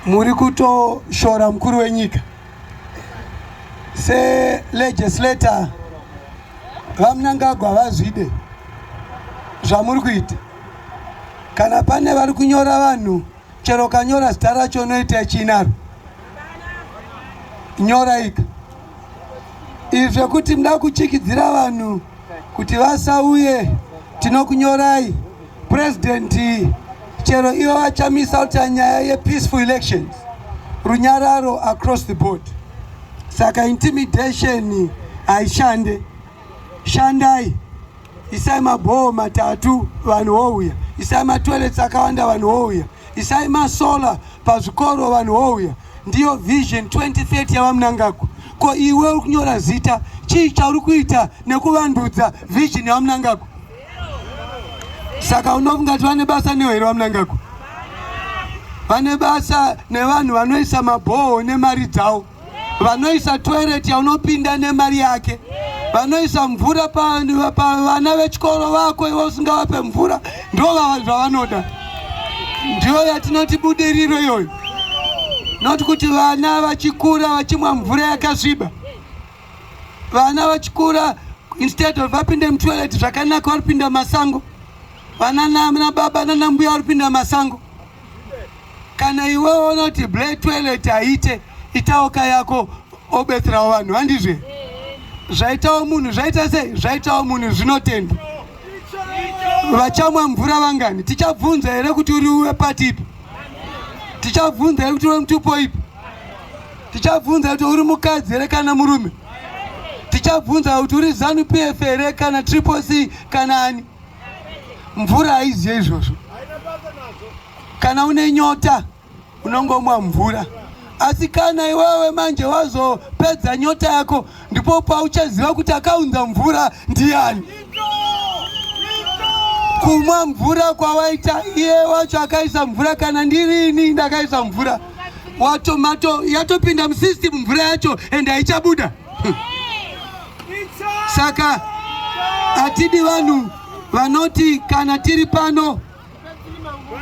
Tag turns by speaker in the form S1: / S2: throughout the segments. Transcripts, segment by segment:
S1: muri kutoshora mukuru wenyika selegislator vamunangagwa vazvide zvamuri kuita kana pane vari kunyora vanhu chero kanyora zita racho unoita chinaro nyoraika izvi zvekuti muda kuchikidzira vanhu kuti vasauye tinokunyorai president chero ivo vachamisa kuti nyaya yepeaceful elections runyararo across the board saka intimidation haishande shandai isai mabhoho matatu vanhu wouya isai matoilets akawanda vanhu wouya isai masolar pazvikoro vanhu wouya Ndiyo vision 2030 yavamunangagwa. Ko iwe uri kunyora zita chii chauri kuita nekuvandudza vision yamunangagwa? Saka unofunga kuti vane basa newe here vamunangagwa? Vane basa nevanhu vanoisa mabhoho nemari dzavo, vanoisa toilet yaunopinda nemari yake, vanoisa mvura pavana vechikoro vako iwe usingavape mvura ndovava zvavanoda ndiyo yatinoti budiriro iyoyo noti kuti vana vachikura vachimwa mvura yakasviba vana vachikura instead of vapinde mutoilet zvakanaka varipinda masango vana nana baba nana mbuya varipinda masango kana iwe ona kuti ble toilet haite itawo ka yako obetserawo vanhu handizve zvaitawo munhu zvaita sei zvaitawo munhu zvinotenda vachamwa mvura vangani tichabvunza here kuti uri wepati ipi tichabvunza here kuti uri mutupo ipi tichabvunza kuti uri mukadzi here kana murume tichabvunza kuti uri zanu pf here kana triple c kana ani mvura haidye izvozvo kana une nyota unongomwa mvura asi kana iwewe manje wazopedza nyota yako ndipo pauchaziva kuti akaunza mvura ndiani kumwa mvura kwawaita iye wacho akaisa mvura kana ndirini ndakaisa mvura watomato yatopinda musystem mvura yacho ende haichabuda Saka hatidi vanhu vanoti kana tiri pano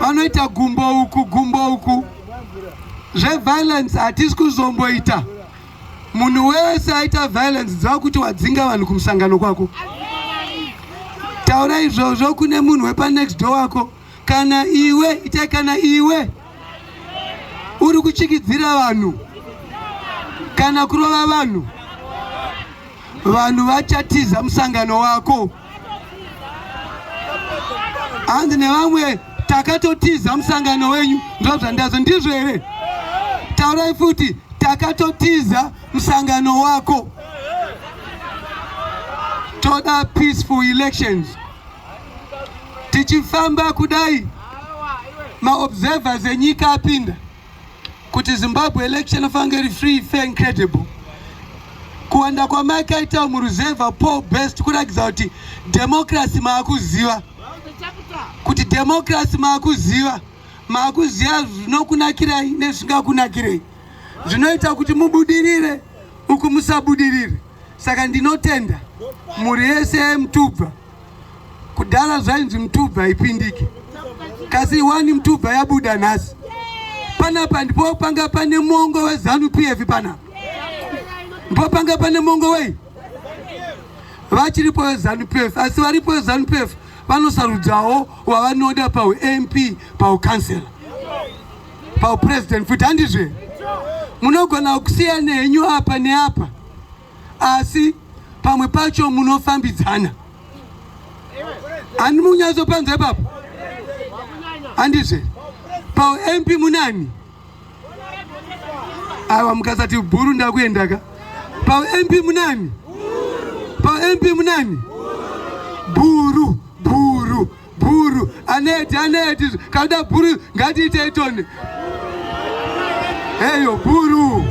S1: vanoita gumbo uku gumbo uku zveviolence hatisi kuzomboita munhu wese aita violence dziva kuti wadzinga vanhu kumusangano kwako taura izvozvo kune munhu wepanext door wako kana iwe itai kana iwe uri kuchikidzira vanhu kana kurova vanhu vanhu vachatiza musangano wako hanzi nevamwe takatotiza musangano wenyu ndoo zvandazo ndizvo here taurai futi takatotiza musangano wako toda peaceful elections tichifamba kudai maobservers enyika apinda kuti zimbabwe election afange iri free fair and credible kuwanda kwamakaita muruzevha paul best kuratidza kuti democracy maakuziva kuti democracy maakuziva maakuziva zvinokunakirai nezvisingakunakirei zvinoita kuti mubudirire uku musabudirire saka ndinotenda mhuri yese yemutubva Kudhara zvainzi mtubva haipindiki kasi wani mtubva yabuda nhasi panapa ndipo panga pane mongo wezanu pf pana ndipo panga pane mongo wei vachiripo wezanu pf asi varipo wezanu pf vanosarudzawo wavanoda paump paukansela paupresident futi handizve munogona kusiyana henyu apa neapa asi pamwe pacho munofambidzana handi munyatsopanza ipapo handizve paump munani awa mukasati bhuru ndakuendaka paump munani paump munani bhuru bhuru Bhuru aneti aneti kada bhuru ngatiite itoni eyo bhuru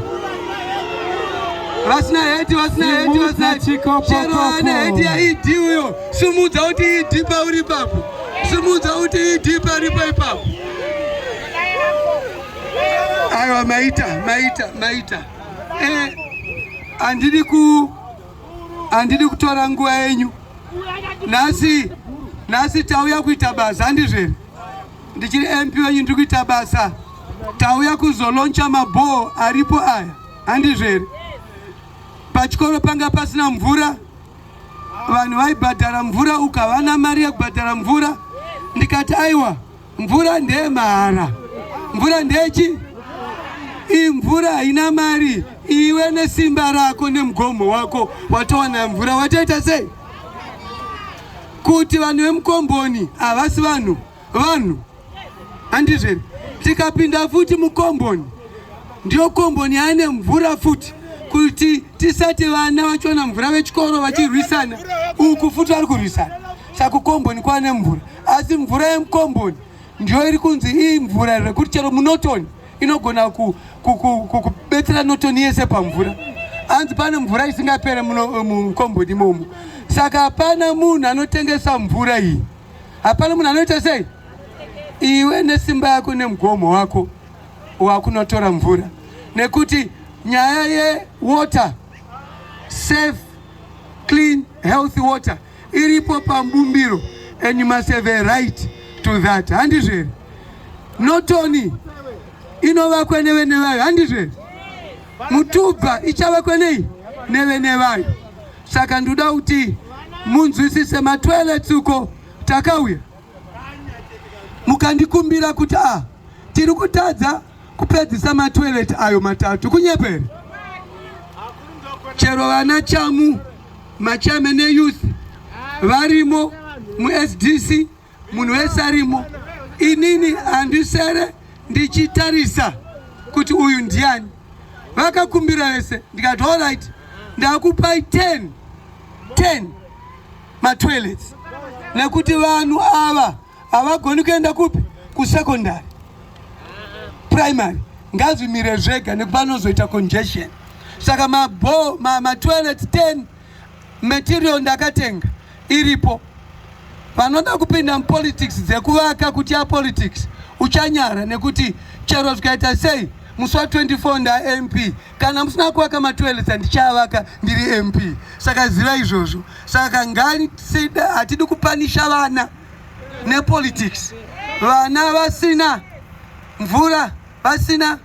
S1: vasina heti vasina heti vasina heti chero ane heti yaidi uyo simudza kuti idi pauri papo simudza kuti idi paripo ipapo aiwa maita maita maita eh, handidi ku handidi kutora nguva yenyu nhasi nhasi tauya kuita basa handizvo here ndichiri mp wenyu ndiri kuita basa tauya kuzoloncha mabhoo aripo aya handizvo here pachikoro panga pasina mvura vanhu vaibhadhara mvura ukavana mari yekubhadhara mvura ndikati aiwa Mvura ndeye mahara, mvura ndechi imvura haina mari. Iwe nesimba rako nemugomo wako watowana mvura, watoita sei kuti vanhu vemukomboni havasi vanhu vanhu handizveri? Tikapinda futi mukomboni, ndiyo komboni yaane mvura futi kuti tisati vana vachiona mvura vechikoro vachirwisana uku futi vari kurwisana Saka kukomboni kwane mvura, asi mvura yemukomboni ndiyo iri kunzi iyi mvura rekuti chero munotoni inogona kubetsera notoni yese pamvura. Hanzi pane mvura isingapere mukomboni imomo, saka hapana munhu anotengesa mvura iyi, hapana munhu anoita sei. Iwe nesimba yako nemugomo wako wakunotora mvura, nekuti nyaya yewater safe clean healthy water iripo pambumbiro and you must have a right to that handizvo here not only inovakwa nevene vayo handizvo here mutubva ichavakwa nei nevene vayo saka ndoda kuti munzwisise matoilets uko takauya mukandikumbira kuti a ah, tiri kutadza kupedzisa matoilet ayo matatu kunyepere chero vana chamu machairman eyouth varimo muSDC munhu wese arimo. Inini handisere ndichitarisa kuti uyu ndiani. Vakakumbira vese ndikati all right, ndakupai 10 10 matoilets nekuti vanhu ava havagoni kuenda kupi kusecondary primary ngazvimire zvega nekuti vanozoita congestion saka mabho matoilet ma 10 material ndakatenga iripo vanoda kupinda mupolitics dzekuvaka kuti apolitics uchanyara nekuti chero zvikaita sei musi wa 24 ndamp kana musina kuvaka matoilet andichavaka ndiri mp saka ziva izvozvo saka ngatida hatidi kupanisha vana nepolitics vana vasina mvura vasina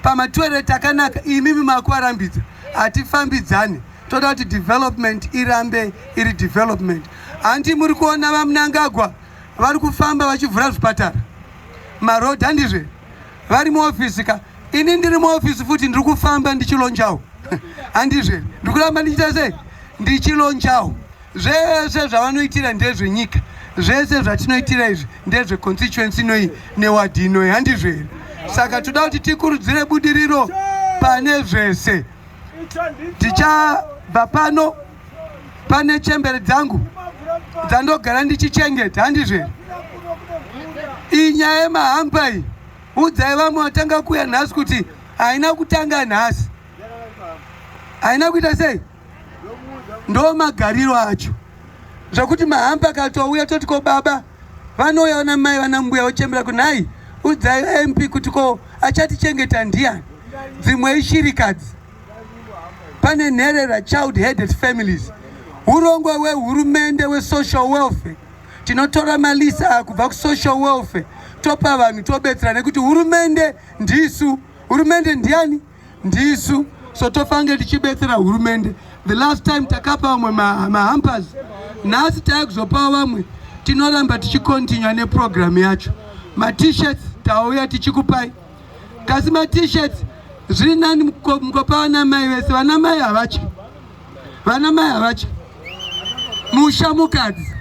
S1: pamatoilet akanaka imimi makuvarambidza hatifambidzane toda kuti development irambe iri development hanti muri kuona vamunangagwa vari kufamba vachivhura zvipatara maroad handizve vari muofisi ka ini ndiri muofisi futi ndiri kufamba ndichilonjawo handizve ndiri kuramba ndichita sei ndichilonjawo zvese zvavanoitira ndezvenyika zvese zvatinoitira izvi ndezveconstituency inoyi newadhi inoyi handizvo here saka toda kuti tikurudzire budiriro pane zvese tichabva pano pane chembere dzangu dzandogara ndichichengeta handizvo here iyi nyaya yemahamba iyi udzai vamwe vatanga kuuya nhasi kuti haina kutanga nhasi haina kuita sei ndo magariro acho zvakuti mahamba akatouya toti ko baba vanouya vana mai vana mbuya vochembera kunhai udzai vamp kuti ko achatichengeta ndiyani dzimwe ishirikadzi pane nherera child headed families urongwa wehurumende wesocial welfare tinotora malisa kubva kusocial welfare topa vanhu tobetsera nekuti hurumende ndisu hurumende ndiani ndisu so tofange tichibetsera hurumende the last time takapa vamwe mahampers nhasi tave kuzopawo vamwe tinoramba tichikontinua neprogramu yacho matishirts tauya tichikupai kasi matishirts zviri nani mukopa vanamai vese vanamai havatye vanamai havatye musha mukadzi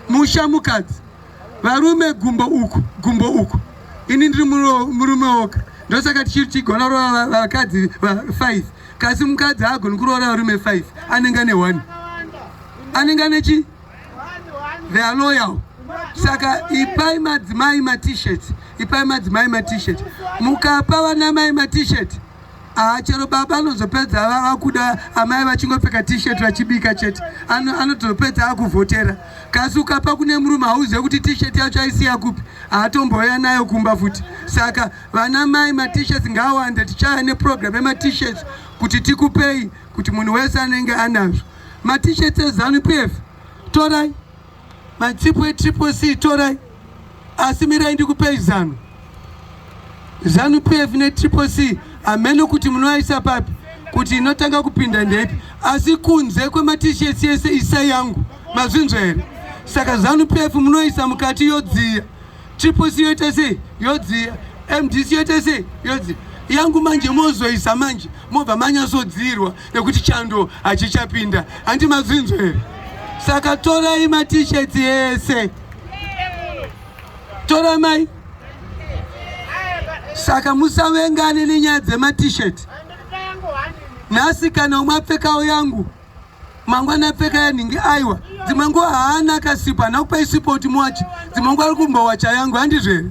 S1: musha mukadzi varume gumbo uku gumbo uku ini ndiri murume woga ndosaka tichiri tigona kuroora vakadzi va5 kasi mukadzi haagoni kuroora varume 5 anenge ane 1 anenge ane chi they are loyal saka ipai madzimai matishet ipai madzimai matishet mukapa vanamai matishet Ah, chero baba anozopedza vakuda amai vachingopfeka t-shirt vachibika chete anotopedza ano akuvhotera kasi ukapa kune murume hauzive kuti t-shirt yacho aisiya kupi haatombouya nayo kumba futi saka vana mai matishes ngaawande tichaya neprogram yematishes kuti tikupei kuti munhu wese anenge anazvo matishes ezanu pf torai Machipo etriple C torai, asi mirai ndikupei zanu. Zanu PF netriple C hameno kuti munoaisa papi, kuti inotanga kupinda ndepi, asi kunze kwematishesi ese isa yangu. Mazvinzwa here? Saka zanu PF munoisa mukati yodziya. Tripoc yoita sei yodziya, MDC yoita sei yodziya yangu manje mozoisa manje mobva manyasodziirwa nekuti chando hachichapinda handi mazvinzwa here saka torai matisheti ese tora mai saka musavengane nenyaya dzematisheti nhasi kana umwe apfekawo yangu mangwana apfeka yanhingi aiwa dzimwe nguva haana akasipo hana kupa isipo kuti muwachi dzimwe nguva ari kumbowacha yangu handizvere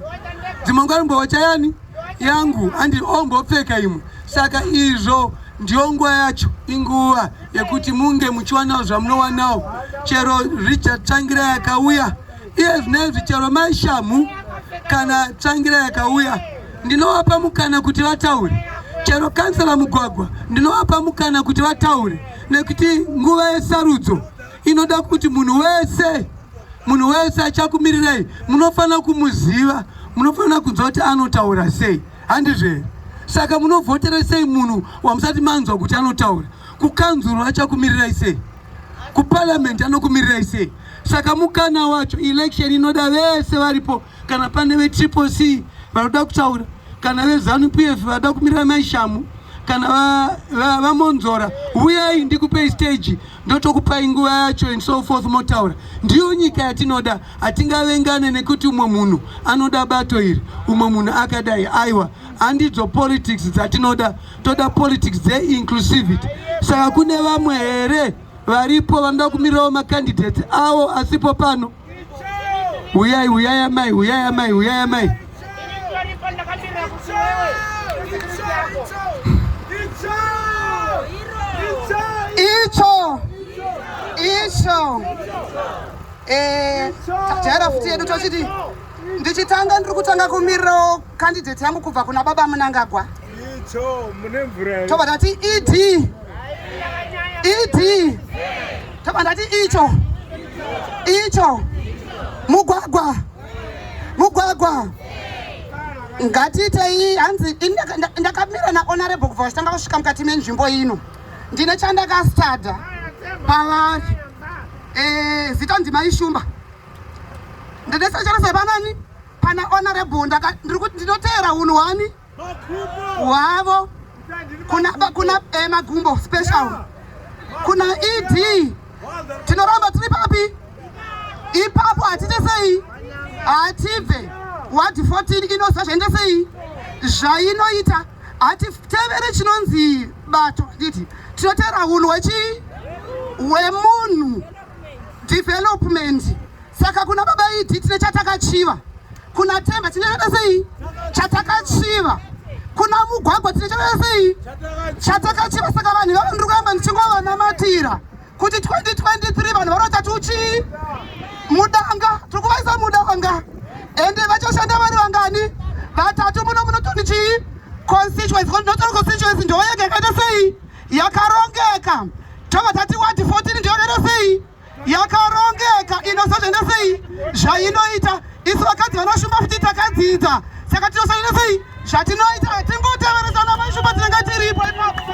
S1: dzimwe nguva ari kumbowacha yani yangu handi ombopfeka imwe saka izvo ndiyo nguva yacho inguva yekuti munge muchiwanawo zvamunowanawo chero richard tsvangira yakauya iye zvinenzi chero mai shamhu kana tsvangira yakauya ndinovapa mukana kuti vataure chero kansela mugwagwa ndinovapa mukana kuti vataure nekuti nguva yesarudzo inoda kuti munhu wese munhu wese achakumirirai munofanira kumuziva munofanira kunzwa kuti anotaura sei handizvo here saka munovhotera sei munhu wamusati manzwa kuti anotaura kukanzuru achakumirirai sei kuparliament anokumirirai sei saka mukana wacho election inoda vese varipo kana pane vetriple c vanoda kutaura kana vezanu p f vanoda kumirira maishamu kana vamonzora huyai ndikupei stage ndotokupai nguva yacho and so forth motaura ndiyo nyika yatinoda hatingavengane nekuti umwe munhu anoda bato iri umwe munhu akadai aiwa handidzo politics dzatinoda toda politics dze inclusivity saka kune vamwe here varipo vanoda kumirirawo macandidates awo asipo pano huyai huyai amai huyai amai huyai amai icho
S2: icho eh, tajaira futi yedu tochiti ndichitanga ndiri kutanga kumirirawo kandidheti yangu kubva kuna baba munangagwa tobva ndati ed ed tobva ndati icho icho mugwagwa mugwagwa ngatiitei hanzi ndakamira nahonorable kubva vachitanga kusvika mukati menzvimbo ino ndine chandakastada pavari eh, zita ndimaishumba ndine sechero sepanani pana honorable ndinoteera unhu wani hwavo kuna eh, magumbo special kuna ed tinoramba tiri papi ipapo hatite sei hatibve wadi 14 inoziva zvainde sei zvainoita hatitevere chinonzi bato nditi tinoteera unhu wechii wemunhu development saka kuna baba idi tine chatakachiva kuna temba tine chakaita sei chatakachiva kuna mugwagwa tine chakaita sei chatakachiva saka vanhu vavo ndiri kuramba ndichingovanamatira kuti 2023 vanhu vanoita tuchii mudanga tiri kuvaisa mudanga ende vachashanda vari vangani vatatu muno munotondichii constituency notori constituency ndoyega yakaita sei yakarongeka tobva tati wadi 14 ndiyorere sei yakarongeka inosazvenda sei zvainoita isu vakadzi vanoshumba futi takadzidza saka tinosazvenda sei zvatinoita hatingoteveresana vaishumba tinenge tiripo ipapo